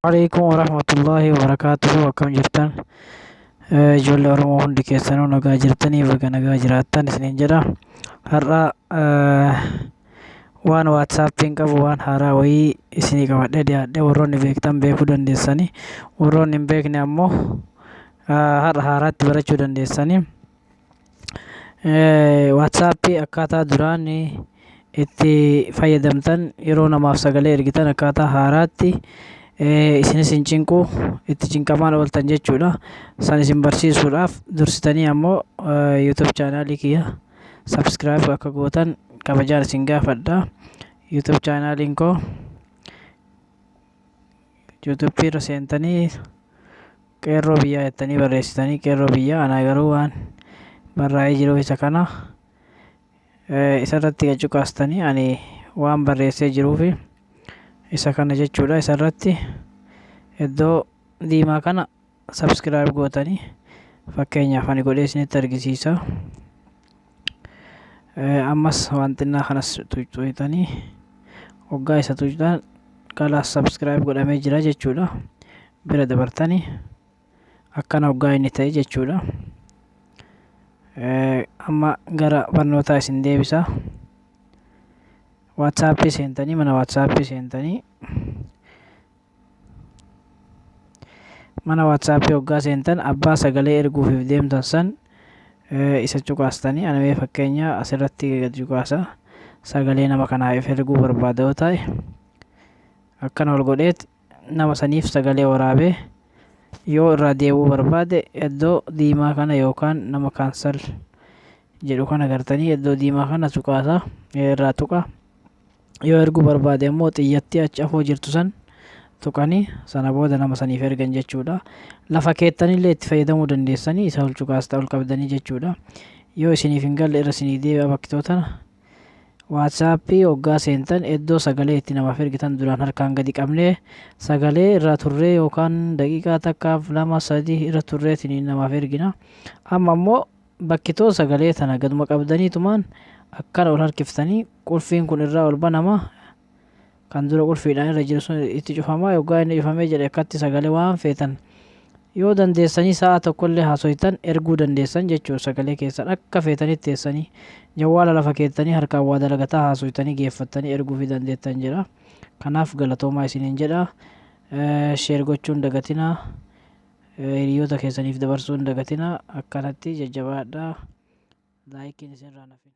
Waalaikum warahmatullahi wabarakatuh akkam jirtan Eh, ijoollee Oromoo hundi keessanuu nagaa jirtanii baga nagaa jiraattan isiniin jedha har'a eh, Waan WhatsAppiin qabu waan haaraa wayii isinii qabadhee dhiyaadhe warroonni beektan beekuu dandeessanii warroonni hin beekne ammoo ah, har'a haaraatti barachuu dandeessanii. Eh, WhatsAppii akkaataa duraan itti fayyadamtan yeroo namaaf sagalee ergitan akkaataa haaraatti eh, isinis hin cinqu itti cinqamaan ooltan jechuudha. San isin barsiisuudhaaf dursitanii ammoo eh, YouTube chaanaalii kiyya subscribe akka gootan kabajaan isin gaafadha youtube chaanaaliin koo youtube irra seentanii qeerroo biyyaa jettanii barreessitanii qeerroo biyyaa anaa garuu waan barraa'ee jiru isa kana eh, isarratti gad cuqaastanii ani waan barreessee jiruufi isa kana jechuudha isarratti iddoo diimaa kana subscribe gootanii fakkeenyaaf ani godhee isinitti argisiisa ammas waan xinnaa kanas tuqxanii hoggaa isa tuqxan kalaas subscribe godhamee jira jechuudha bira dabartanii akkana hoggaa inni ta'e jechuudha amma gara barnootaa isin deebisa waatsaappii seentanii mana waatsaappii seentanii mana WhatsApp hoggaa seentan abbaa sagalee erguufiif deemtan san isa cuqaastanii ana mee fakkeenya asirratti gad cuqaasa sagalee nama kanaaf erguu barbaada yoo ta'e akkana ol godheet nama saniif sagalee waraabee yoo irraa deebuu barbaade iddoo diimaa kana yookaan nama kaansal jedhu kana gartanii iddoo diimaa kana cuqaasa irraa tuqa. yoo erguu barbaade ammoo xiyyattii achi afoo jirtu san tuqanii sana booda nama saniif ergan jechuudha. Lafa keettanillee itti fayyadamuu dandeessanii isa ol cuqaasta ol qabdanii jechuudha. Yoo isiniif hin galle irra isinii deebi'a bakkitoo tana. Waatsaappii hoggaa seentan iddoo sagalee itti namaaf ergitan duraan harkaan gadi qabnee sagalee irraa turree yookaan daqiiqaa takkaaf lama sadii irra turreetiin namaaf ergina. Amma ammoo Bakki too sagalee tana gaduma qabdaniitumaan akkana ol harkiftanii qulfiin kun irraa ol banama kan dura qulfiidhaan irra jiru sun itti cufamaa yoggaa inni cufamee jedhe akkatti sagalee waan feetan yoo dandeessanii sa'a tokkollee haasoytan erguu dandeessan jechuun sagalee keessan akka feetanitti teessanii jawwaala lafa keettanii harkaan waa dalagataa haasoytanii geeffattanii erguu fi dandeettan jedha kanaaf galatoomaa isiniin jedha sheer gochuun dagatinaa hiriyoota keessaniif dabarsuu hin dagatinaa akkanatti jajjabaadhaa laayikiin isinirraa hin hafin.